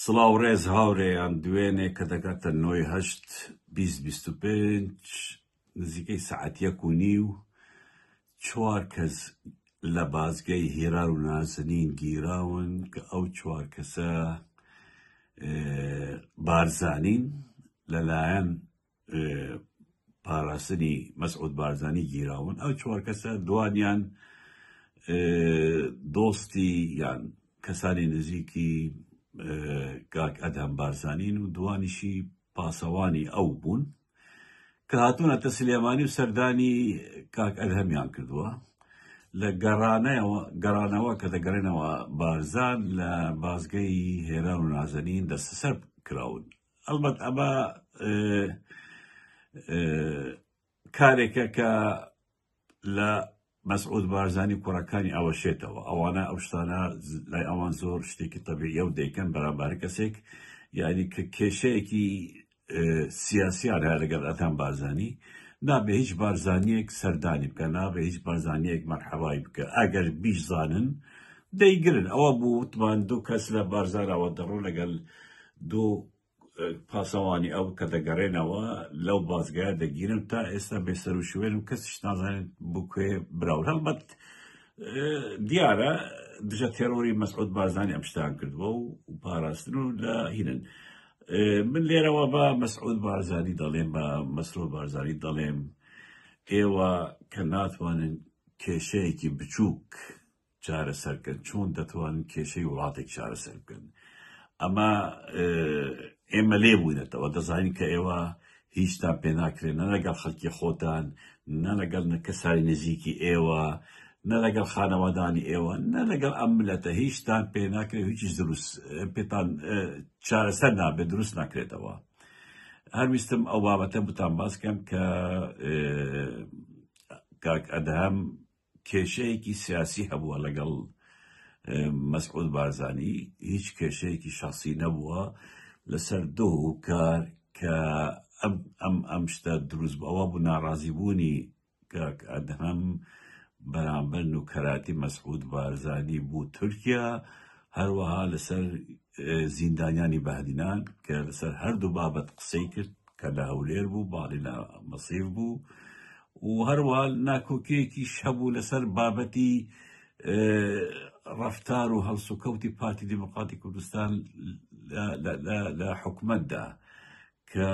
سڵاو ڕێز هاورێیان دوێنێ کە دەگاتە نۆی هەشت بیست بیست و پێنج نزیکەی سەعات یەک و نیو چوار کەس لە بازگەی هیرار و نازنین گیراون کە ئەو چوار کەسە بارزانین لەلایەن پاراستنی مەسعود بارزانی گیراون ئەو چوار کەسە دوانیان دۆستی یان کەسانی نزیکی کاک ئەدهەم بارزانین و دوانیشی پاسەوانی ئەو بوون کە هاتوونەتە سلێمانی و سەردانی کاک ئەدهەمیان کردووە لە گەڕانەوە گەڕانەوە کە دەگەڕێنەوە بارزان لە بازگەی هێران و نازەنین دەستەسەر کراون ئەڵبەت ئەمە کارێکە کە لە مەسعود بارزانانی کوڕەکانی ئەوە شێتەوە ئەوانە ئەو شتانە لای ئەوان زۆر شتێکی تەبیعە و دەیکەن بەرامبار کەسێک یعنی کە کێشەیەکی سیاسیان هەیە لەگەڵ ئەتان بارزانانی نابێ هیچ بارزانانیەک سەردانی بکە نابێ هیچ بارزانانیەک مەرحەوای بکە ئەگەر بیشزانن دەیگرن ئەوە بوو وتمان دوو کەس لە بارزانەوە دەڕۆ لەگەڵ دوو پاسەوانی ئەو کە دەگەڕێنەوە لەو بازگایە دەگیرم تا ئێستا بێسەر و شوێنم کەسیش نازانێت بۆ کوێ براون هەڵبەت دیارە دژە تێرۆری مەسعود بارزانانی ئەم شتان کردووە و پاراستن و لە هینن من لێرەوە بە مەسعود بارزانانی دەڵێم بە مەسرۆ بارزانانی دەڵێم ئێوە کە ناتوانن کێشەیەکی بچووک چارەسەرکەن چۆن دەتوانن کێشەی وڵاتێک چارەسەر بکەن ئەمە ئێمە لێ بووینەتەوە دەزانین کە ئێوە هیچتان پێ ناکرێن نە لەگەڵ خەڵکی خۆتان نە لەگەڵ کەسانی نزیکی ئێوە نە لەگەڵ خانەوادانی ئێوە نە لەگەڵ ئەم ملەتە هیچتان پێ ناکرێت هیچ دروست پێتان چارەسەر نابێت دروست ناکرێتەوە هەرویستم ئەو بابەتە بتان باسکەم کە کاک ئەدهام کێشەیەکی سیاسی هەبووە لەگەڵ مەسعود بارزانی هیچ کێشەیەکی شەخسی نەبووە لەسەر دۆ و کار کە ئەم ئەم ئەم شتە دروست بەوە بوو ناڕازی بوونی کاک ئەدهەم بەرامبەر نوکەراتی مەسعود بارزانی بوو تورکیا هەروەها لەسەر زیندانیانی بەهدینان کە لەسەر هەردوو بابەت قسەی کرد کە لە هەولێر بوو باڵی لە مەسیف بوو و هەروە ناکۆکیەکی شەبوو لەسەر بابەتی ڕفتار و هەڵسوکەوتی پارتی دیموکراتی کوردستان لە حکومتدا کە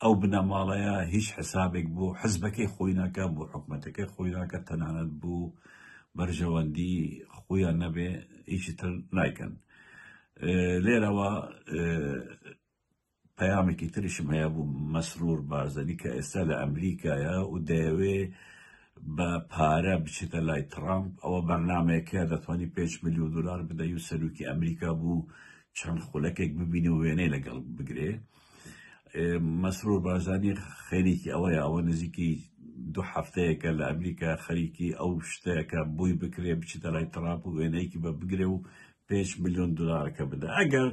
ئەو بنەماڵەیە هیچ حسابێک بۆ حزبەکەی خۆی ناکات بۆ حکومەتەکەی خۆی ناکات تەنانەت بۆ بەرژەوەندی خۆیان نەبێ هیچی تر نایکەن لێرەوە پەیامێکی تریشم هەیە بوو مەسرور بارزەنی کە ئێستا لە ئەمریکایە و دەیەوێ بە پارە بچێتە لای ترامپ ئەوە بەرنمەیەکە دەتوانانی 5 میلیۆن دلار بدەی و سەرروکی ئەمریکا بوو چەند خولەکێک ببینی و وێنەی لەگەڵ بگرێ مەسرور بارزانی خەریکی ئەوەیە ئەوە نزیکی دو هەفتەیەکە لە ئەمریکا خەریکی ئەو شتەکە بووی بکرێ بچیتە لای تراپ و وێنەیەکی بە بگرێ و پێنج ملیۆن دلارەکە بدە ئەگەر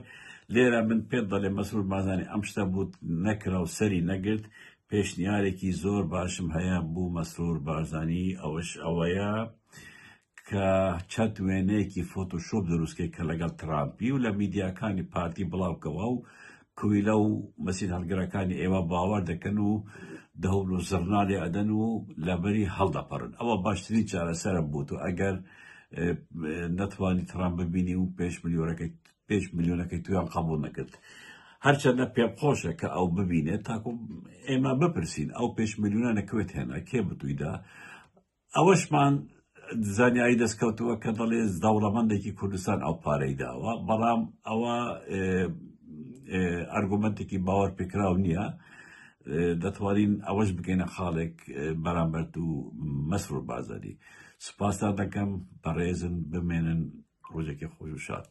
لێرە من پێت دەڵێ مەسرور بازانی ئەم شتە بوت نەکرا و سەری نەگرت پێشنیارێکی زۆر باشم هەیە بوو مەسرور بارزانی ئەوەش ئەوەیە کە چەند وێنەیەکی فۆتۆشۆپ دروستکرد کە لەگەڵ ترامپی و لە میدیاکانی پارتی بڵاوکەوە و کویلە و مەسین هەڵگرەکانی ئێوە باوەر دەکەن و دەهۆن و زڕنا لێ ئەدەن و لەبەری هەڵدەپەڕن ئەوە باشترین چارەسەرە بۆ تۆ ئەگەر نەتوانی ترامپ ببینی و پێش ملیۆنەکەی پێش ملیۆنەکەی تویان قبول نەکرد هەرچەندە پێم خۆشە کە ئەو ببینێت تاکو ئێمە بپرسین ئەو پێش ملیۆنە نەکوێت هێنا کێ بتویدا ئەوەشمان زانیاری دەستکەوتووە کە دەڵێ دەوڵەمەندێکی کوردستان ئەو پارەی داوە بەڵام ئەوە ئەرگومنتێکی باوەڕ پێکراو نییە دەتوانین ئەوەش بگەینە خاڵێک بەرامبەرت و مەسر و بازاری سوپاستا دەکەم بەڕێزن بمێنن ڕۆژێکی خۆش و شاد